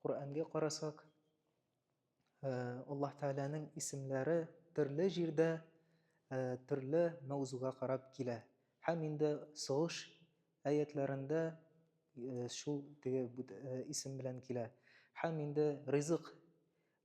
Коръәнгә карасак, Аллаһ Тәгаләнең исемләре төрле җирдә төрле мәүзуга карап килә. Һәм инде согыш әятләрендә шул теге исем белән килә. Һәм инде ризык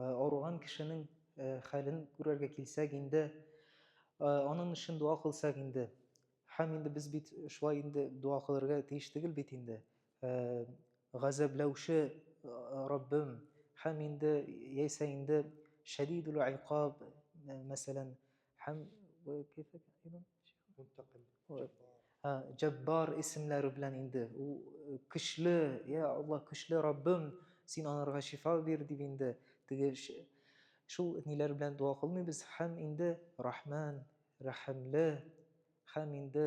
Э, ауырған кешенең э, хәлен күрергә килсәк инде э, аның өчен дуа кылсак инде һәм инде без бит шулай инде дуа кылырга тиеш түгел бит инде газәбләүче раббым һәм инде яисә инде шәдидул айкаб мәсәлән Һәм Мунтаким. Җаббар исемләре белән инде. Ул э, көчле, я Аллаһ, көчле Раббым, син анарга шифа бир дип инде теге шул ниләр белән дуа кылмыйбыз. Һәм инде Рахман, Рәхимле, һәм инде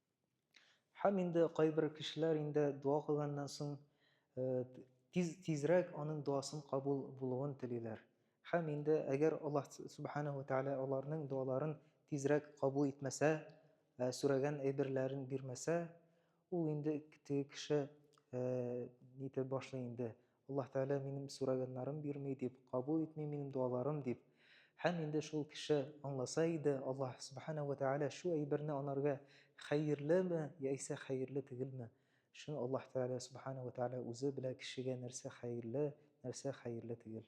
Һәм инде кайбер кешеләр инде дуа кылганнан соң тиз тизрәк аның дуасын кабул булуын телиләр. Һәм инде әгәр Аллаһ субхана ва тааля аларның дуаларын тизрәк кабул итмәсә, сүрәгән әйберләрен бирмәсә, ул инде теге кеше нитә башлый инде, Аллаһ Тәгалә минем сораганнарым бирми дип, кабул итми минем дуаларым дип. Һәм инде шул кеше аңласа иде, Аллаһ Субхана уә Тәгалә шу әйберне анарга хәерлеме, яисә хәерле тегелме. Шуны Аллаһ Тәгалә Субхана уә Тәгалә үзе белә кешегә нәрсә хәерле, нәрсә хәерле тегел.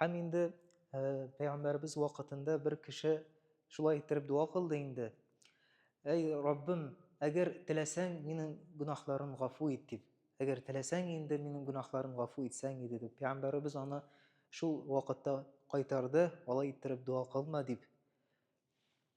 Һәм инде пәйгамбәребез вакытында бер кеше шулай иттереп дуа кылды инде. Әй Раббым, әгәр теләсәң, минем гөнаһларым гафу ит дип. Әгәр теләсәң инде минем гөнаһларым гафу итсәң иде дип. Пәйгамбәребез аны шул вакытта кайтарды, алай иттереп дуа кылма дип.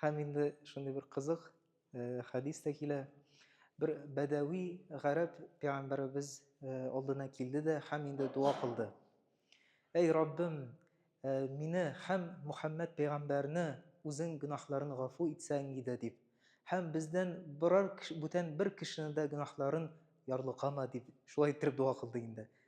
Һәм инде шундый бер кызык э, хәдис тә килә. Бер бәдәви гарәп пәйгамбәребез э, алдына килде дә һәм инде дуа кылды. Әй Раббым, э, мине һәм Мухаммад пәйгамбәрне үзең гөнаһларын гафу итсәң иде дип. Һәм бездән берәр бүтән бер кешене дә гөнаһларын ярлыкама дип, шулай итеп дуа кылды инде.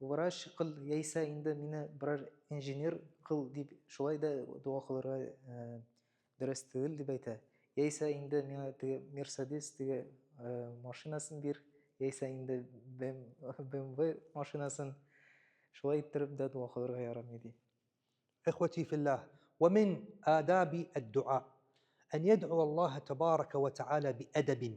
Врач кыл яисә инде мине берәр инженер кыл дип шулай да дога кылырга дөрес түгел дип әйтә. Яисә инде миңа теге Мерседес теге машинасын бир, яисә инде BMW машинасын. Шулай иттереп дә дога кылырга ярамый, ди. Ихвати филлах, ва мин адаби ад-дуа, ан ядъуа Аллаһа тәбарәкә ва тәгалә би-әдәбин.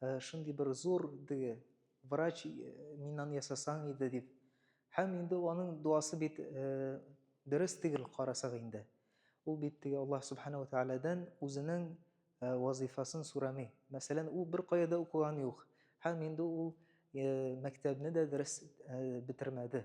Ә шундый бер зур теге врач миннан ясасаң иде дип. Һәм инде аның дуасы бит дөрес тигел карасак инде. Ул бит теге Аллаһ Субхана ва Тәгаләдән үзенең вазыйфасын сорами. Мәсәлән, ул бер кая да укыган юк. Һәм инде ул мәктәбне дә дөрес бетермәде.